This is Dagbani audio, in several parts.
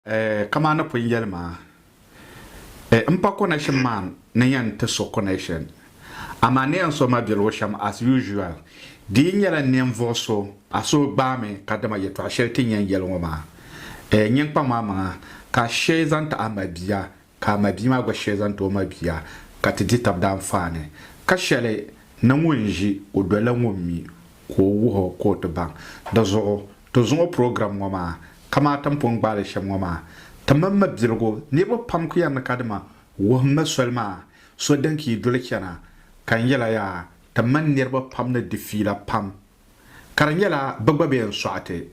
Kaman ni pun yɛli maa, m pa connection maa ni yɛn ti so connection, amaa ni yɛn so ma birigu shɛm as usual. Di yi nyɛla ninvuɣ so, a suhu gbaami kadama yɛtɔɣ shɛli ti ni yɛn yɛli ŋɔ maa, nyin kpaŋ maa maŋa ka a shee zaŋ ti a mabia ka a mabia maa gba shee zaŋ ti o mabia ka ti di tab daanfaani. Ka shɛli ni ŋun ʒi o doli la ŋun mi ka o wuhi o ka o ti baŋ. Di zuɣu, ti zuŋɔ program ŋɔ maa, kamani ti ni pun gbaai li shɛm ŋɔ maa, ti mini ma biligu, niriba pam ku yɛri ni ka dima wuhim ma soli maa, so din ka yi doli chana, ka n yɛla yaa, ti mini niriba pam ni di fiila pam. ka di nyɛla bɛ gba bee n sɔɣi ti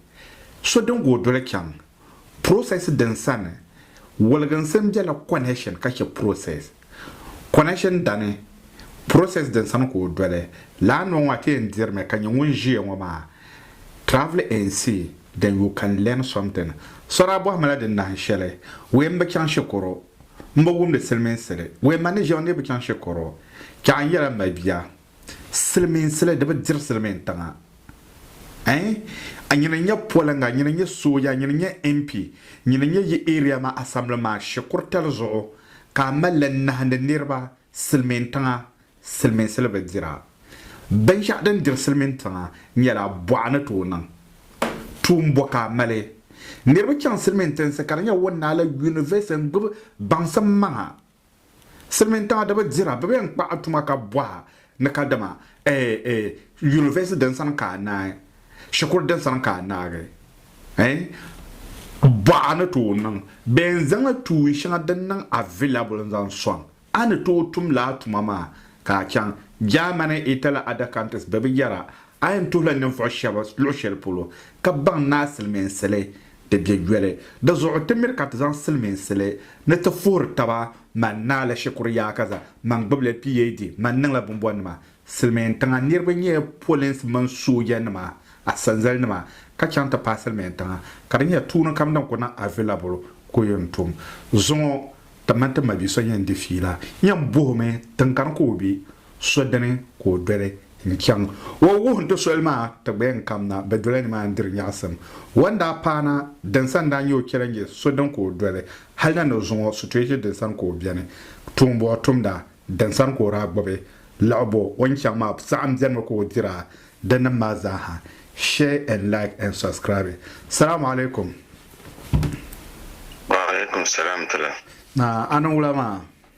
so din gooi doli chaŋ process din sani woliginsi n bela connection ka che process connection dani process din sani ka o doli laa noo ŋɔ a ti yɛn dirimi ka nyɛ ŋun ʒiya ŋɔ maa travel and see then you can learn something so daa bɔhimi la di nahin shɛli wee m bi chaŋ shikuru m bi wumdi siliminsili wee ma ni ʒiya ŋɔ ni yi bi chaŋ shikuru chɛ a ni yɛla m ma bia Silimiinsili di bi diri silimiin tiŋa ɛɛn a nyini nyɛ polinga a nyini nyɛ sooja a nyini nyɛ MP nyini nyɛ yi area maa assembly maa shikuritali zuɣu ka a malli n nahindi niriba silimiin tiŋa silimiinsili bi dira binshɛɣu din diri silimiin tiŋa nyɛla bɔɣa ni tooi niŋ tuun bɔ ka a mali niriba chaŋ silimiin tinsi ka di nyɛ wunnaali university n gbubi baŋsim maŋa Silimiintaɣidiba dira bɛ bɛn kpaɣi tuma ka bɔha ni kadama ɛɛ yunivɛsi din sani ka a naai, shikuru din sani ka a naagi ɛɛ bɔha ni tooi niŋ bɛn zaŋla tuui shɛŋa din niŋ avilabul n-zaŋ sɔŋ a ni tooi tum lala tuma maa ka a chaŋ Germany, Italy, other countries bɛ bi yɛra A yɛn tuhila ninvuɣ shɛba luɣ shɛli polo ka baŋ ni a silimiinsili di be yoli. Di zuɣu ti miri ka ti zaŋ silimiinsili ni ti fuhiri taba. Mani naa la shikuru Yaakaza man gbibila PhD man niŋla bimbɔnima. Silimiintiŋa niriba nyɛla polinsi mini soojanima asanzalinima ka chaŋ ti paai silimiintiŋa ka di nyɛla tuuni kam din kuli niŋ available ka o yɛn tum. Zuŋɔ ti mini ti mabia so yɛn di fiila yɛn bohimi tiŋkani ka o be. so dini ka o doli n-chaŋ o o wuhi ni ti soli maa ti gba yɛn kam na bɛ dola nimaani diri nyaɣisim. O ni daa paai na din sani daa nyɛ o chɛli n-nyɛ so dini ka o doli hali na ni o zuŋ o situation din sani ka o beni, tuumbuɣu tumda din sani ka o daa gbubi laɣibu o ni chaŋ maa saɣim beni mi ka o dira di nim maa zaa ha. Share and like and subscribe. Salaam alaikum. Wa alaikum salaam tila. Naa a niŋ wula maa?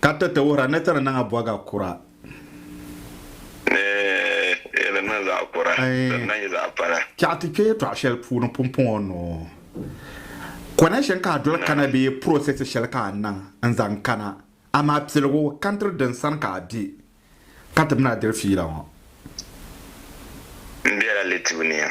Ka ti ti wuhira ni ti ni niŋ a bɔga kura. Ni yi ni niŋ zaɣ kura, di ni na nyɛ zaɣ pala. Chɛɣu ti kpe yɛtɔɣ shɛli puuni pumpɔŋɔ ni o connection ka a doli kana bee process shɛli ka a niŋ n-zaŋ kana, amaa piligu country din sani ka a be ka ti mi ni a diri fiila ŋɔ. M bela Litibu ni ya.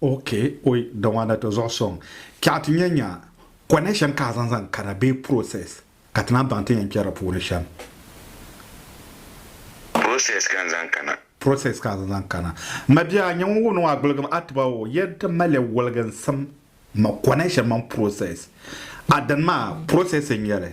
Ok oi Dawaana ti zuɣu sɔŋ kpɛɣu ti nya nya kɔnɛ shɛm ka a zaŋ zaŋ kana bee process ka ti naan baŋ ti yɛn kpɛri di puuni shɛm. Process ka n zaŋ kana. Process ka a zaŋ zaŋ kana. M ma bia, nya ŋun wuhi ni o a gbuligim a tiba o yɛn ti mali woliginsim ma kɔnɛ shɛm mini process. A dini maa process n-nyɛ li.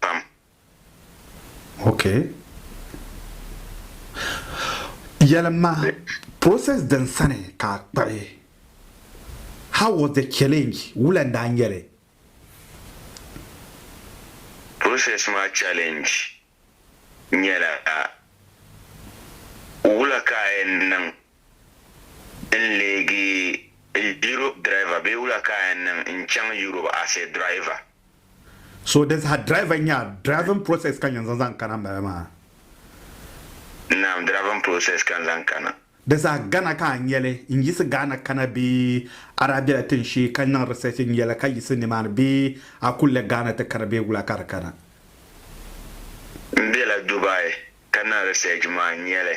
pam. Ok. Yɛlim ma, process din sani ka a kpabi, how was the challenge, wula n-daa nyɛ li? Process maa challenge nyɛla wula ka a yɛn niŋ N leegi Europe driver bee wula ka a yɛn niŋ n chaŋ Europe as a driver? So di saha driver nya driving process ka n yɛn zaŋ zaŋ kana m-bala maa? Naam, driving process ka n zaŋ kana. Di saha Ghana ka a nya li? N yiɣisi Ghana kana bee a daa bela tin shee ka niŋ research nya li ka yiɣisi nimaani bee a kuli le Ghana ti kana bee wula ka di kana? N bela Dubai ka niŋ research maa nya li.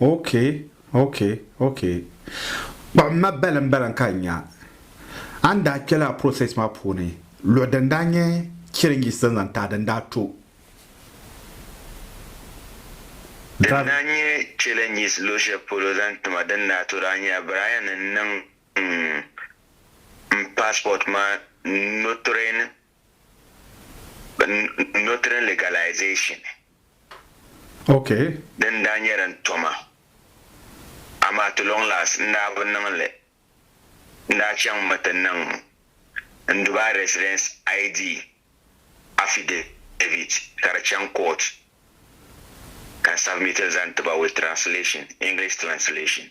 Ok ok ok kpuɣi ma baliŋ baliŋ ka n nya a ni daa kpe lala process maa puuni luɣi din daa nyɛ challenges din zaŋ taai din daa to. Din daa nyɛ challenges luɣi shɛli polo zaŋ ti ma din daa to daa nyɛla Brian ni niŋ m passport maa notering. Notary legalization Okay. din daa nyɛ din to ma, amaa to long last n daa bi niŋ li. N daa chaŋ mi ti niŋ n Dubai residence ID affidavit ka di chaŋ court ka n submit li zaŋ ti ba with translation, English translation.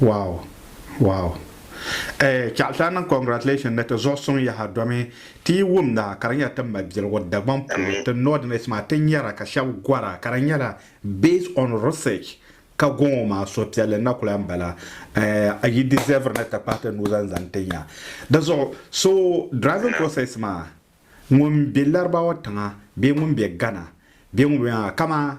Wow wow eh Chalta niŋ congratulations ni ti zuɣu suŋ yaha domi ti yi wumda ka di nyɛla ti mabiligu Dagbaŋ polo ti Northerners maa ti nyara ka shɛb gɔra ka di nyɛla based on research ka gɔŋɔ maa suhupiɛlli na kuli n bala eh yi deserve ni ti kpahi ti nuu zaŋ zani ti nya di zuɣu so driving process maa ŋun be Laribawa tiŋa bee ŋun be Ghana bee ŋun be maa kaman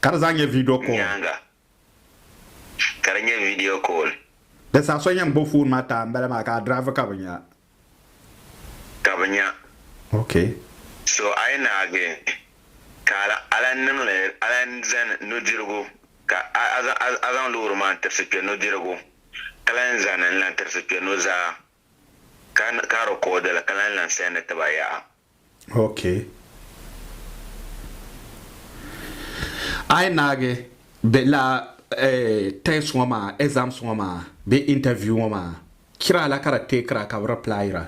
Ka di zaa nyɛ video call. Nyaaŋa ka di nyɛ video call. Di saha so yɛn gbubi foon maa taai m-bala maa ka a drive ka bi nya. Ka bi nya. Okay. So a yi naagi ka a lan niŋ li a lan zani nudirigu ka a zaŋ loori maa n-tirisi kpe nudirigu ka lan zani n-lan tirisi kpe nuzaa ka record li ka lan lan send ti ba yaha. Ok. A yi naagi be la test ŋɔ maa, exams ŋɔ maa bee interview ŋɔ maa, kira la ka di teekira ka be replyira.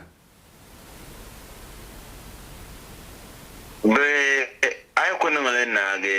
Bee a yi ku niŋ li naagi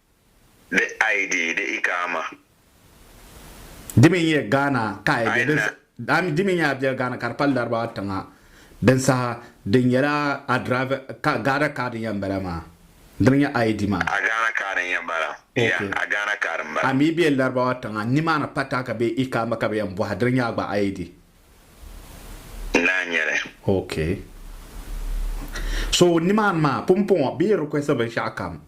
The ID, the Iqaama. Di mi n-nyɛ Ghana ka a yɛl din Di mi n-nyɛ a biɛl Ghana ka di pali Larabawa tiŋa din saha di nyɛla a driver ka Ghana card n-yɛn bala maa. Di mi n-nyɛ ID maa. A Ghana card n-yɛn bala. Yeah, a Ghana card m-bala. A mi be Larabawa tiŋa nimaani pataaka bee Iqaama ka bɛ yɛn bɔhi di ni nyɛ a gba ID. N daa nyɛ li. Okay. So nimaani maa pumpɔŋɔ bɛ yi request binshɛɣu kam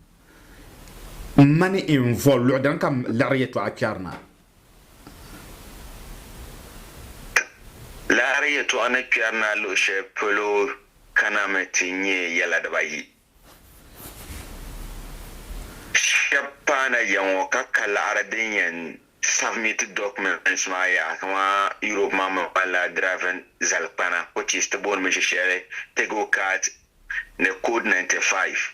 M ma ni i ni voli luɣi dini ka m liɣiri yɛtɔɣa kpɛri na? Ti liɣiri yɛtɔɣa ni kpɛri na luɣi shɛli polo kanami ti nyɛ yɛla dibaayi. Shɛb paana ya ŋɔ ka ka liɣiri din yɛn submit documents maa yaha kaman Europe maa mi ŋmanila driving zalikpana which is ti booni mi shɛshɛli Tegocart ni code 95.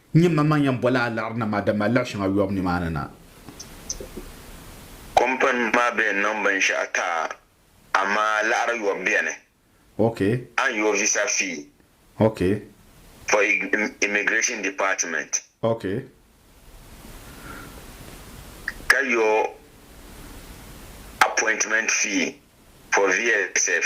N nyɛ maŋmaŋ n yɛn bɔla a liɣiri na maa, dama a liɣi shɛŋa yɔbu nimaani na. Kɔmpini maa bee n-niŋ binshɛɣu ti a, amaa a liɣiri yɔbu beni. Ok. A ni yooi visa fee. Ok. For Immigration Department. Ok. Ka yooi appointment fee for VSF.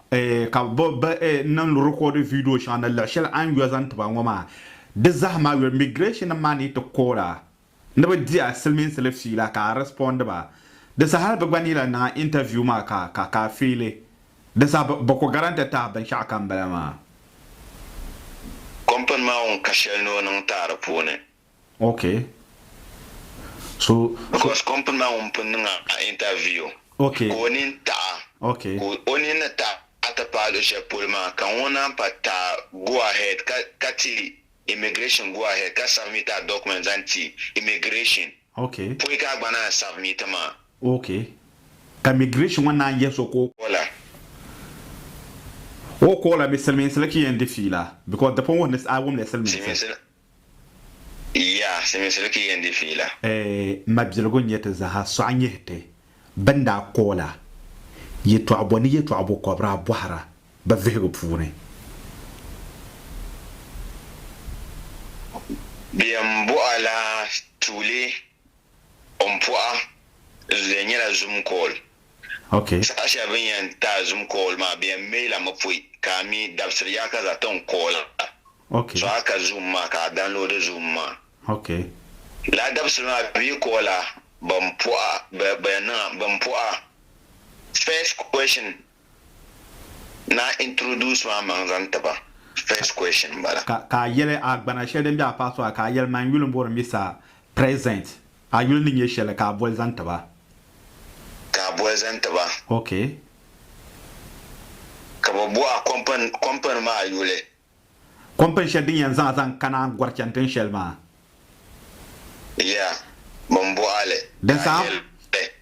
Ka bɛ niŋ rikɔɔdi viidiyo shɛŋa ni luɣ shɛli a ni yo zaŋ ti ba ŋɔ maa, di zahima yo imigirɛshinnim maa ni ti koor a ni bɛ di a silimiinsili fiila ka a rɛspɔndi ba. Di saha hal bɛ gba ni lahi niŋ a intaviyu maa ka a feeli, di saha bɛ ku garantɛ ti a binshɛɣu kam bala maa. Kɔmpini maa ŋun ka shɛli ni o niŋ taai di puuni. Ok so Because company maa ŋun pun niŋ a interview Ok ka o nini taɣi Ok ka o nini ni taɣi ti paai luɣi shɛli polo maa ka ŋɔ naan pa ta go ahead ka ka ti immigration go ahead ka submit a documents zaŋ ti immigration Ok pɔi ka a gba naan submit maa. Ok ka immigration ŋɔ naan yihi so ka o. Kola. O kola mi silimiinsi la chi yɛn di fiila because di pun wuhi ni a wumla silimiinsi. Silimiinsi la. Yiya, Silimiinsi bi ki yɛn di fiila. Mabiligu n-nyɛ ti zaaha sɔɣi nyihi ti bɛn daa ka o la yɛtɔɣibo ni yɛtɔɣibo kɔbira bɔhira bɛ vihigu puuni. Bɛ yɛn bɔh a la tuuli o ni pɔh a zuliya nyɛla zum kɔɔl. Saha shɛli bɛ ni yɛn ti a zum kɔɔl maa bɛ yɛn meei la mi pɔi ka a mi dabisiri yaakaza ti n kɔɔl a. So a ka Zoom maa ka a download Zoom maa. Laa dabisili maa bɛ yi call a bɛn puhi a bɛ yɛn niŋ a bɛn puhi a first question na introduce maa maŋ zaŋ ti ba first question n bala. Ka a yɛli a gbana shɛli din bɛ a paɣa suɣa ka a yɛli man yuli n bɔri Mr President a yuli ni nyɛ shɛli ka a boli zaŋ ti ba. Ka a boli zaŋ ti ba. Ka bɛ buɣi a company maa yuli. Kɔmpini shɛli din yɛn zaŋ a zaŋ kana gɔri chani tin shɛli maa. Ya bɛn bɔh a li, Din ka a saha, yɛli.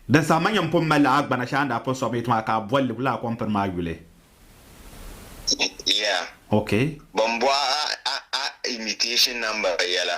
din saha ma nyɛm pun mali la a gbana shɛli a ni daa pun sɔbimi yi ti maa ka a bol li lala kɔmpini maa yuli. Ya Okay. bɛn bɔh a a a invitation number yɛla.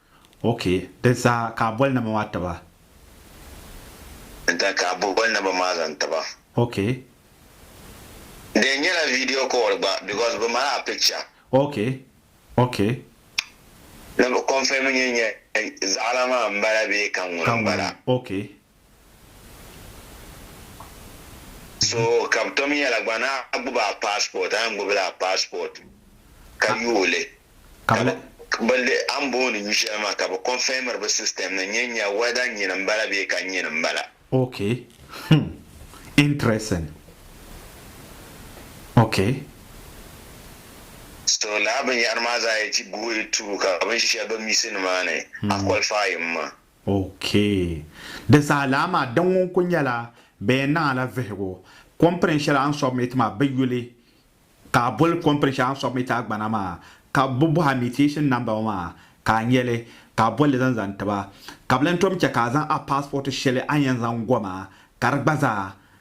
Ok di zaa ka a boli namba maa tiba. N ta ka a boli namba maa zaŋ tiba. Ok. Di nyɛla video call gba because bi mali a picture. Ok ok. Ni bi confirm nyɛ zaɣa la maa n bala bee ka ŋuni n bala. Ka ŋuni ok So ka bi tom yɛla gba na a gbubi a passport a yɛn gbubi la a passport ka yooi li ka bi bi a ni booni yu shɛli maa ka bi confirmiri bi system ni nyɛ nyɛ whether nyini n bala bee ka nyini n bala. Ok hmm interesting ok. So lala binyɛhiri maa zaa yi ti guhi through ka binshɛli bɛ missing maa ni a qualify mi maa. OK. Di zaa lana maa di ŋun ku nyɛla bɛ yɛn niŋ a la vihigu. Kɔmpini shɛli a ni submit maa bɛ yuli ka a boli kɔmpini shɛli a ni submit a gbana maa ka bɛ bɔhi a mutation number ŋɔ maa ka a nyɛli ka a bolli zaŋ zaŋ ti ba ka bɛ lan tom chɛ ka a zaŋ a passport shɛli a ni yɛn zaŋ go maa ka di gba zaa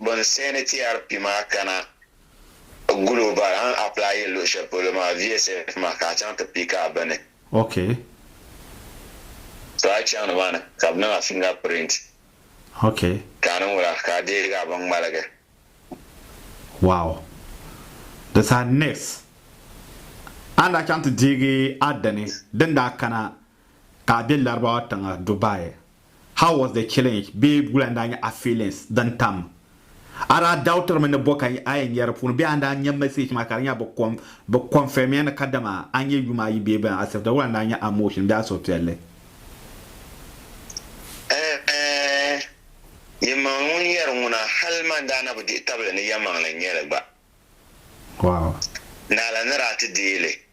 Bɔn seeni TRP maa kana gul o bari a ni apply yɛ luɣi shɛli polo maa VSF maa ka a chaŋ ti pick a bini. Okay. To a chaŋ ni maa ni ka bɛ niŋ a finger print. Okay. Ka a niŋ wula ka a deegi a bin ŋmaligi. Wow. Di saha next a ni daa chaŋ ti deegi a dini din daa kana ka a be Larabawa tiŋa Dubai, how was the challenge bee wula n-daa nyɛ a feelings din tam? A daa doubtiri mi ni bɔ ka a yɛn nyari puuni bee a ni daa nya message maa ka di nya bɛ confirm ya ni kadama a nyɛ yuma ayi bee bɛn accept wula n-daa nyɛ a motion bee a suhupiɛlli? Yɛlimaŋli ŋun yɛri ŋuna hali man daa na bi dihi tabili ni yɛlimaŋli n-nyɛ li gba. Wow. Naala ni daa ti deei li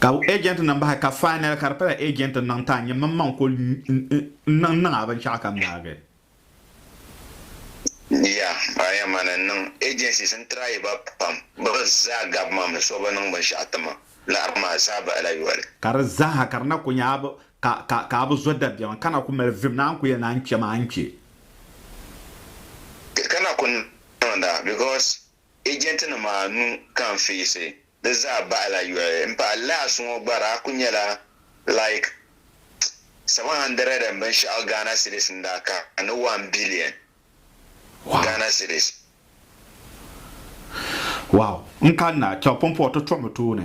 Ka agent nim bahi ka final ka di pala agent niŋ ta nyɛ mini maŋ kuli niŋ niŋ a binshɛɣu ka m daagi. Yeah, a yɛn mani n niŋ agencies n try ba pam bɛ zaa gabi ma mi so bi niŋ binshɛɣu ti ma laɣiri maa zaa bahila yoli. Ka di zaaha ka di na kuli nyɛ a bi ka a bi zo dabiɛma ka na kuli mali vim ni a ni kuli yɛli ni a ni kpe maa a ni kpe. Ka na kuli niŋda because Ejentinima anu kanfiisi di zaa bahila yoli m-pahi laɣis ŋɔ gba daa kuli nyɛla like seven hundred and binshɛɣu Ghana cedis n-daa kaani one billion Ghana cedis. Wow! N kanna a Kyaw-Pumpɔɔ ti tɔɣimi tooni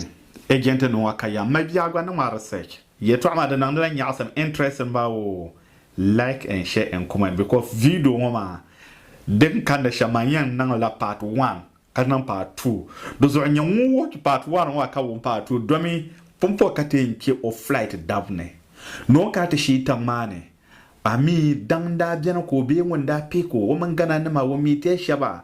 ejentinima ŋɔ ka yɛm mali bia gba ni ŋmari research. Yɛtɔɣa maa di niŋdila nyaɣisim, interest m-bawoo? Like and share and comment because video ŋɔ maa din kanda shɛm maa n yɛn niŋ la part one ka niŋ part two di zuɣu nyɛ ŋun watch part one ŋɔ ka wum part two domi pumpɔŋ ka ti yɛn che o flight dab ni ni o kana ti shii tiŋ maa ni amii daŋ n daa beni ka o bee ŋun daa pick o o mini Ghana nima o meet ya shɛba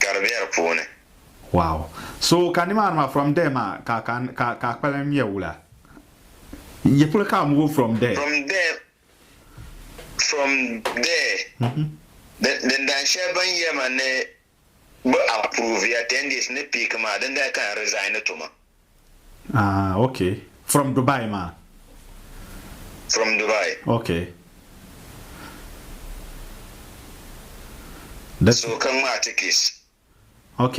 gari bɛ di puuni. Wow so ka nimaani maa from there maa ka ka ka ka kpalim ŋmɛ wula yi puli ka move from there. From there from there din dan shɛli bini yɛma ni bi approve ya ten days ni pick maa din dali ka n resign tuma. Ah ok from Dubai maa. From Dubai. Ok. So ka ŋmaa ti kiss. Ok.